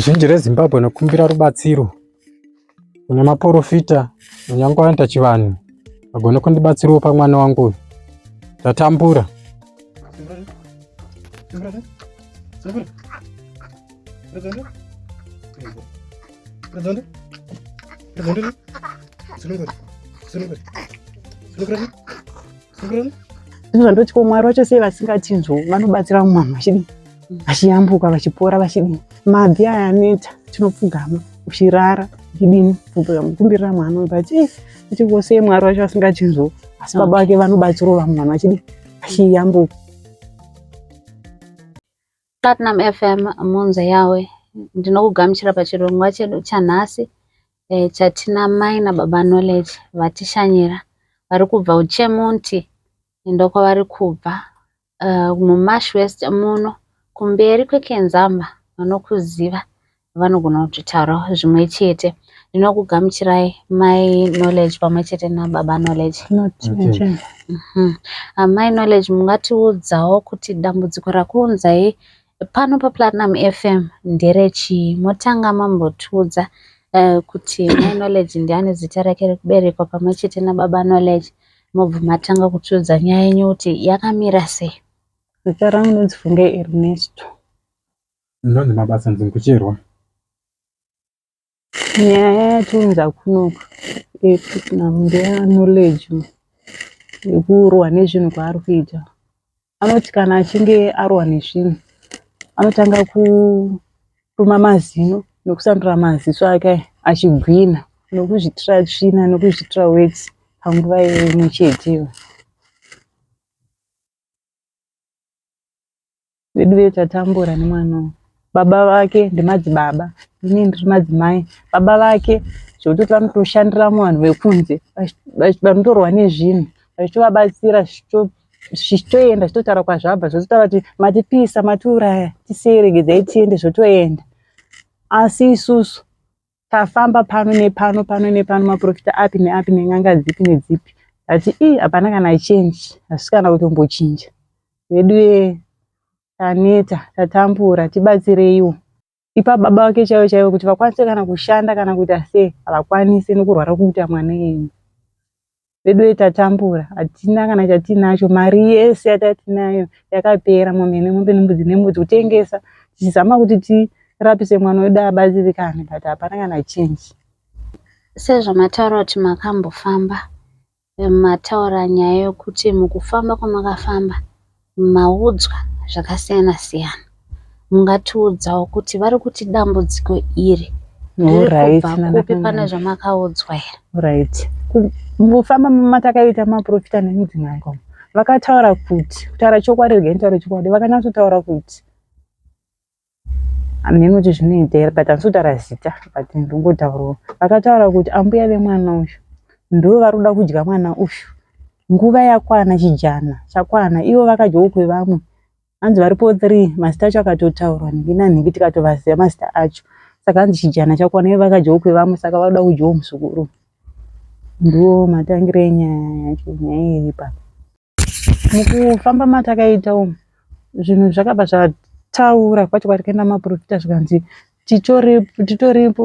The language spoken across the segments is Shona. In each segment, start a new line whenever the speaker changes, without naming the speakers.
Zhinji reZimbabwe nokumbira rubatsiro kuna maporofita munyangwa vanoita chivanhu vagone kundibatsirawo pamwana wangu uyu ndatambura
izvo ndotyomwari vacho sei vasingatinzwo vanobatsira mumwana vachidii vachiyambuka vachipora vachidini mabvi aya aneta tinopfugama uchirara uchidini kumbirira mwana but achingoseye mwari wacho asingachinzwo asi baba vake vanobatsirawo vamwe vanhu vachidini vachiyambuka
platinum fm munze yawe ndinokugamuchira pachirongwa chedu chanhasi e, chatina mai nababa knowledge vatishanyira vari kubva uchemunti ndokwavari kubva muMash West muno kumberi kweKenzama vanokuziva vanogona kutotaurawo zvimwe chete. Ndinokugamuchirai mai Knowledge pamwe chete nababa Knowledge. Mhm. Ah, mai Knowledge mungatiudzawo kuti dambudziko rakuunzai pano paPlatinum FM nderechii? Motanga mambotiudza eh, kuti mai Knowledge ndiani zita rake rekuberekwa pamwe chete nababa Knowledge. mobva matanga kutiudza nyaya yenyu kuti yakamira sei zita rangu
ndinonzi funge ernesto
ndinonzi mabasa nzingucherwa
nyaya yatiunza kunoka yekuti namndeya knowledge yekuurwa nezvinhu kwaari kuita anoti kana achinge arohwa nezvinhu anotanga kutuma mazino nokusandura maziso ake achigwina nokuzvitira tsvina nokuzvitira weti panguva imwe cheteyo. Veduwe tatambura nemwana uyu. Baba vake ndimadzibaba, ini ndiri madzimai. Baba vake zvekutoti vanotoshandira vanhu vekunze, vanotorwa nezvinhu, vachitovabatsira zvichitoenda zvitotaura kwazvabva zvototaura kuti matipisa matiuraya tiseregedzai tiende zvotoenda asi isusu tafamba pano nepano pano nepano maprofita api neapi nen'anga dzipi nedzipi ati ii hapana kana chenji hasi kana kutombochinja vedu taneta tatambura tibatsireiwo ipa baba vake chaivo chaivo kuti vakwanise kana kushanda kana kuita sei havakwanise nekurwara kuita mwana yenyu vedu ve tatambura hatina kana chatinacho mari yese yatatinayo yakapera mombe nemombe nembudzi nembudzi kutengesa tichizama kuti tirapise mwana wedu abatsirikane but hapana kana change
sezvamataura kuti makambofamba Mataura nyaya yokuti mukufamba kwamakafamba maudzwa zvakasiyana siyana. Mungatiudzawo kuti vari kuti dambudziko iri riri kubva kupi pane zvamakaudzwa here? Right.
Mukufamba matakaita maprofita nemudzimai kwavo vakataura kuti kutaura chokwadi regai nitaure chokwadi vakanyatsotaura kuti hameno kuti zvinoita here but handisi kutaura zita but ndongotaurawo vakataura kuti ambuya vemwana uyu ndo vari kuda kudya mwana uyu nguva yakwana chijana chakwana ivo vakadyawo kwevamwe hanzi varipo three mazita acho akatotaurwa nhingi nanhingi tikatovaziva mazita acho saka hanzi chijana chakwana ivo vakadyawo kwevamwe saka vari kuda kudyawo muzukuru ndiwo matangiro enyaya yacho nyaya iripa mukufamba matakaita umu zvinhu zvakabva zvataura kwacho kwatakaenda maporofita zvikanzi titoripo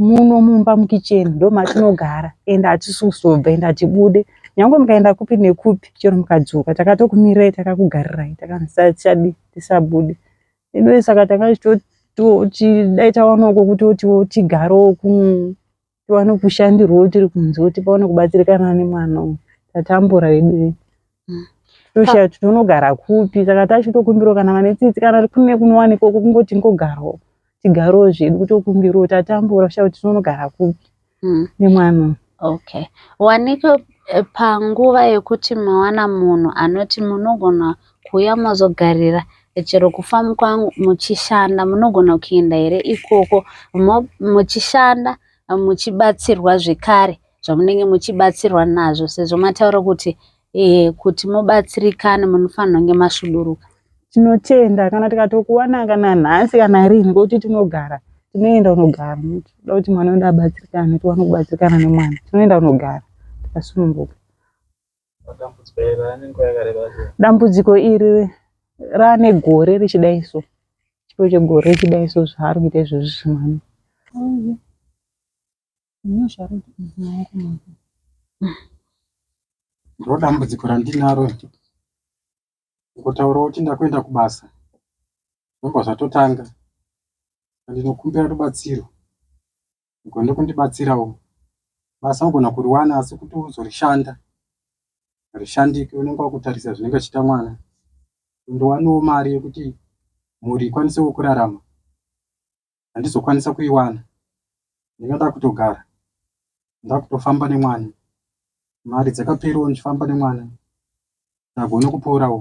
muno mumba mukicheni ndomatinogara ende hatisi kuzobva ende hatibude nyange mukaenda kupi nekupi chero mukadzoka takatokumirai takakugarirai takanzisachadi tisabude edu saka takaitoti dai tawanoko kutoti tigarewo kumu tiwane kushandirwa tiri kunze kuti pawane kubatsirikana nemwana uyu tatambura vedu toshaya kuti tonogara kupi saka tachitokumbirawo kana vane tsitsi kana kune kunowanikwa kungoti ngogarawo tigarewo zvedu kutokumbirawo tatambura shaya kuti tonogara kupi hmm. nemwana uyu okay
wanike eh, panguva yekuti mawana munhu anoti munogona Kuuya mozogarira chero kufarm kwangu muchishanda munogona kuenda here ikoko muchishanda muchibatsirwa zvekare zvamunenge muchibatsirwa nazvo sezvo mataura kuti eh, kuti mubatsirikane munofanirwa kunge masvuduruka tinotenda
kana tikatokuwana kana nhasi kana rini ngokuti tinogara tinoenda unogara toda kuti mwana wedu abatsirikane tiwane kubatsirikana nemwana tinoenda unogara tikasununguka dambudziko iri raane gore richidai so chiro chegore richidai so zvaari kuita izvozvi zvimwana
ndo dambudziko randinaro ngotaura kuti ndakuenda kubasa zvobva zvatotanga andinokumbira rubatsiro ugone kundibatsirawo basa ugona kuriwana asi kuti uzorishanda rishandike unenge wakutarisa zvinenge achiita mwana ndowaniwo mari yekuti mhuri ikwanisewo kurarama handizokwanisa kuiwana ndinga ndakutogara ndakutofamba nemwana mari dzakaperiwo ndichifamba nemwana ndagone kuporawo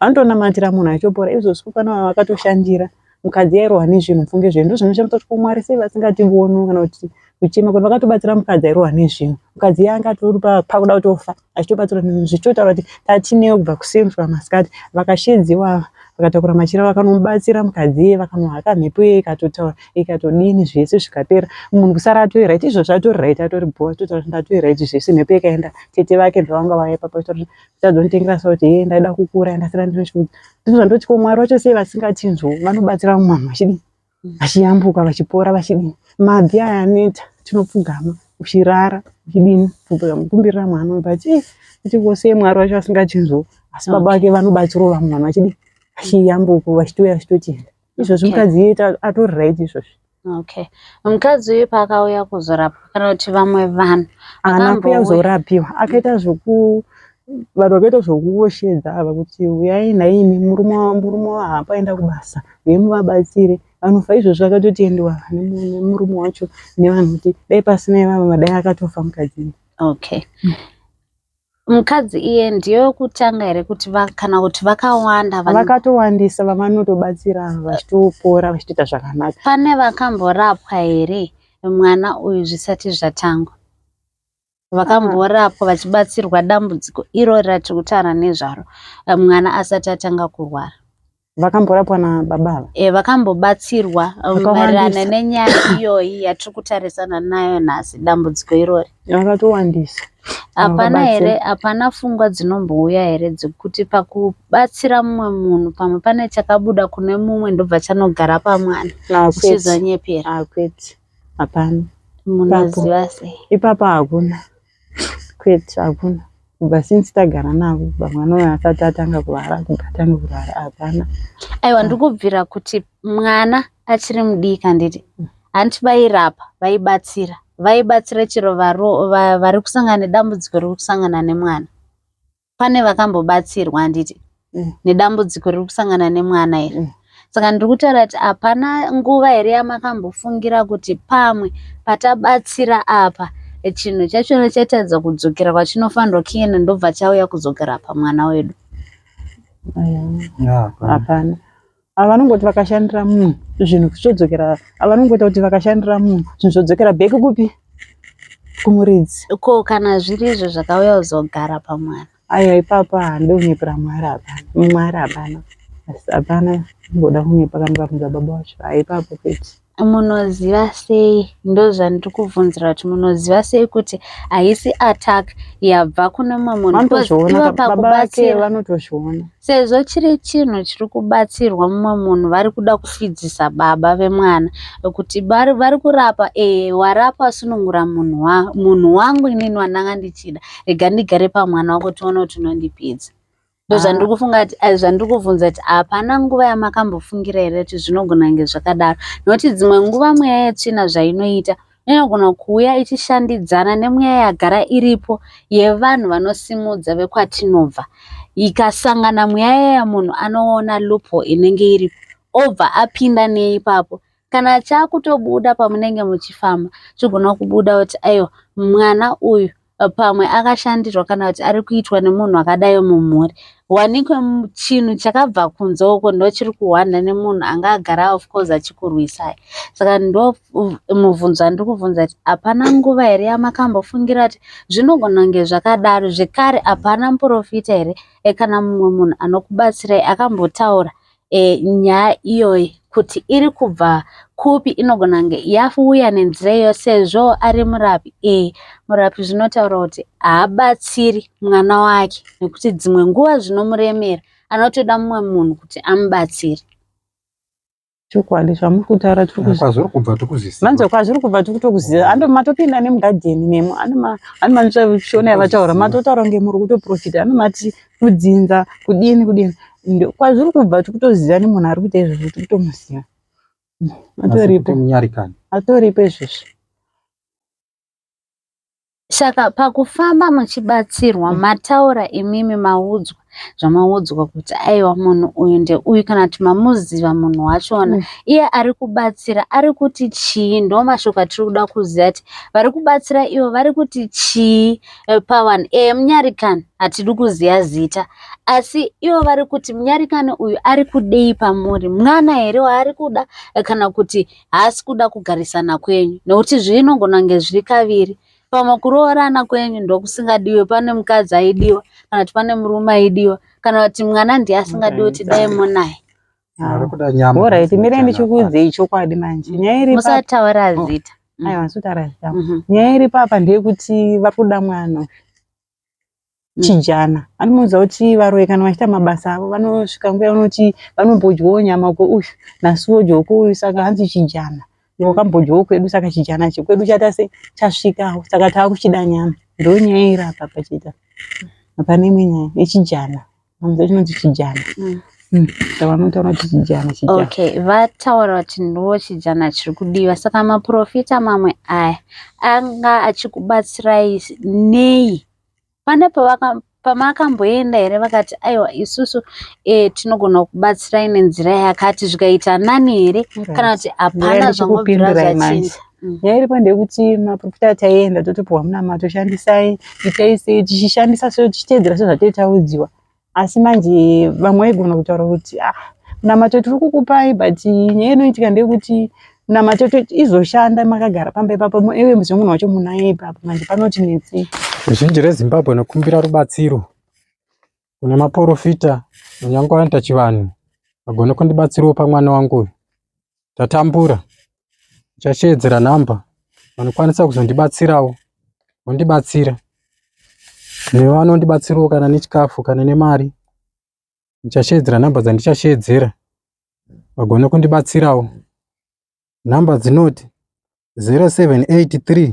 anotonamatira munhu achopora izvo zvikufana vava vakatoshandira mukadzi yairohwa nezvinhu pfunge zvinhu ndozvinoshamisa kuti komwari sei vasingativoni kana kuti kuchema kuti vakatobatsira mukadzi airohwa nezvinhu mukadzi yanga pakuda kutofa achitobatsira zvichitotaura kuti tatineo kubva kuseni kusvika masikati vakashedziwa vakatakura machira vakanomubatsira mukadzi iye vakanohaka mhepo iye ikatotaura ikatodini zvese zvikapera munhu kusara atori right izvozvo atori right atori bhowa totaura kuti ndatori right zvese mhepo yakaenda tete vake ndovanga vaya papa kuti tadzonitengera sa kuti hee ndaida kukura ndasara ndine chiudza ndizvo zvandoti ko mwari vacho sei vasingatinzwo vanobatsira vamwe vanhu vachidii vachiyambuka vachipora vachidii mabvi aya aneta tinopfugama uchirara uchidini kumbirira mwana but eh, kuti ko sei mwari vacho vasingatinzwo asi baba vake vanobatsirawo vamwe vanhu vachidii vachiyambuka vachitouya vachitotienda izvozvi mukadzi iye atori right izvozvi okay
mukadzi uyu paakauya kuzorapwa kana kuti vamwe vanhu anakuya
kuzorapiwa akaita zvoku vanhu vakaita zvokuoshedza ava kuti uyai nhaimi murume murume wahapa aenda kubasa uye muvabatsire vanofa izvozvi vakatotendewa nemurume wacho nevanhu kuti dai pasina ivava madai akatofa mukadzi okay mm.
Mukadzi iye ndiye wekutanga here kuti va, kana kuti vakawanda vane... vakatowandisa
vavanotobatsira vachitopora vachitoita zvakanaka pane vakamborapwa
here mwana uyu zvisati zvatangwa vakamborapwa vachibatsirwa dambudziko irori ratiri kutaura nezvaro mwana asati atanga kurwara vakamborapwa
nababa ava e, vakambobatsirwa
um, maererano nenyaya iyoyi yatiri kutarisana nayo nhasi dambudziko irori vakatowandisa
hapana
here hapana fungwa dzinombouya here dzekuti pakubatsira mumwe munhu pamwe pane chakabuda kune mumwe ndobva chanogara pamwana uchizonyepera akwete
hapana munoziva
sei ipapa hakuna
Kwete hakuna kubva since tagara navo kubva mwana uyo asati atanga kurwara kubva atange kurwara hapana. Aiwa ndiri
kubvira kuti mwana achiri mudiki handiti hanti vairapa vaibatsira vaibatsira chero vari kusangana nedambudziko rekusangana nemwana. pane vakambobatsirwa handiti mm. nedambudziko riri kusangana nemwana here mm. saka ndiri kutaura kuti hapana nguva here yamakambofungira kuti pamwe patabatsira apa chinhu chachona chatadza kudzokera kwachinofanirwa kiyena ndobva chauya kudzokera pamwana wedu
hapana Ava vanongoti vakashandira munhu zvinhu zvodzokera ava vanongoita kuti vakashandira munhu zvinhu zvodzokera back kupi kumuridzi ko kana
zviri izvo zvakauya kuzogara pamwana aiwa ipapa
handide kunyepera mwari hapana mwari hapana hapana ngoda kunyepa kana ukabvunza baba wacho haipapo peti Munoziva
sei ndozvandiri kubvunzira kuti munoziva sei kuti haisi attack yabva kune mumwe munhu because Vanotozviona ivo ka- baba vake
pakubatsira vanotozviona sezvo chiri
chinhu chiri kubatsirwa mumwe munhu vari kuda kufidzisa baba vemwana kuti vari vari kurapa ee warapa wasunungura munhu wa, munhu wangu inini wandanga ndichida rega ndigare pamwana wako tione kuti unondipedza ndozvandiri ah. kufunga kuti eh, zvandiri kubvunza kuti hapana nguva yamakambofungira here kuti zvinogona kunge zvakadaro nokuti dzimwe nguva mweya yetsvina zvainoita inogona kuuya ichishandidzana nemweya yagara iripo yevanhu vanosimudza vekwatinobva ikasangana mweya yeya munhu anoona lupo inenge iripo obva apinda neipapo kana chaakutobuda pamunenge muchifamba chigona kubuda kuti aiwa mwana uyu pamwe akashandirwa kana kuti ari kuitwa nemunhu akadai mumhuri wanikwe chinhu chakabva kunze uko ndochiri kuhwanda nemunhu anga agara of course achikurwisai saka ndo mubvunzo andiri kubvunza kuti hapana nguva here yamakambofungira kuti zvinogona kunge zvakadaro zvekare hapana muprofita here e kana mumwe munhu anokubatsirai akambotaura e, nyaya iyoyi kuti iri kubva kupi inogona kunge yafuuya nenzira iyo sezvo ari murapi e, murapi zvinotaura kuti haabatsiri mwana wake nekuti dzimwe nguva zvinomuremera anotoda mumwe munhu kuti amubatsire
chokwadi zvamuri kutaura tirikwazviri kubva
tikuziva manzwa kwazviri kubva tiri
kutokuziva ando matopinda nemugadheni nemo anomanzwa shona yavataura matotaura kunge muri kutoprofita anomati kudzinza kudini kudini kwazviri kubva tiri kutoziva nemunhu ari kuita izvozvo tiri kutomuziva atoripo atoripo izvozvo
saka pakufamba muchibatsirwa mm. mataura imimi maudzwa zvamaudzwa kuti aiwa munhu uyu ndeuyu kana kuti mamuziva munhu wachona mm. iye ari kubatsira ari kuti chii ndo mashoko atiri kuda kuziva kuti vari kubatsira ivo vari kuti chii Eh, pawan e eh, munyarikani hatidi kuziva zita asi ivo vari kuti munyarikani uyu ari kudei pamuri mwana here waari kuda eh, kana kuti haasi kuda kugarisana kwenyu nekuti zvinongonange zviri kaviri pamwe kuroorana kwenyu ndokusingadiwe pane mukadzi aidiwa kana kuti pane murume aidiwa kana kuti mwana ndiye asingadiwe kuti dai monaye
bhora iti mire ndichikuudzei chokwadi manje nyaya iri musataura oh. zita
aiwa ndisutaura zita
mhm. nyaya iri papa ndeyekuti vari kuda mwana mm. chijana anomuudza kuti varoyi kana vachiita mabasa avo vanosvika nguva yavanoti vanombodyawo nyama uko uyu nhasi vodyawo ko uyu saka hanzi chijana wakambodyawo kwedu saka chijana chekwedu chata se chasvikawo saka tava kuchida nyama ndonyaya iri apa pachita hapana imwe nyaya yechijana Mwanza chinonzi chijana. Mm. Mm. Chavanotaura kuti chijana chijana. Okay, vataura
kuti ndiwo chijana chiri kudiwa. Saka maprofita mamwe aya anga achikubatsirai nei? Pane pavaka pamakamboenda here vakati aiwa isusu e, tinogona kubatsirai nenzira yakati zvikaita nani here kana kuti hapana zvangobvira zvachinja Mm. nyaya iripo
ndeyekuti maprofita ataienda totopiwa munamato shandisai itai sei tichishandisa so tichiteedzera sezvataitaudziwa asi manje vamwe vaigona kutaura kuti ah munamato tiri kukupai but nyaya inoitika ndeyekuti munamato izoshanda makagara pamba ipapo iwe muzive munhu wacho munaye ipapo manje panoti netsei zhinji rezimbabwe
nokumbira rubatsiro kune maporofita kunyange anoita chivanhu agone kundibatsirawo pamwana wangu uyu ndatambura ndichasheedzera nhamba vanokwanisa kuzondibatsirawo vondibatsira nevanondibatsirawo kana nechikafu kana nemari ndichasheedzera nhamba dzandichasheedzera vagone kundibatsirawo nhamba dzinoti 0783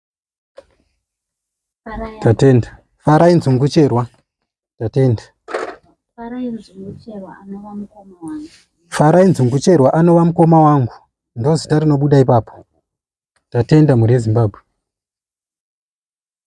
Tatenda. Farai nzungu cherwa. Tatenda.
Farai nzungu cherwa anova mukoma wangu. Farai nzungu
cherwa anova mukoma wangu. Ndozita rinobuda ipapo. Tatenda mhuri yeZimbabwe.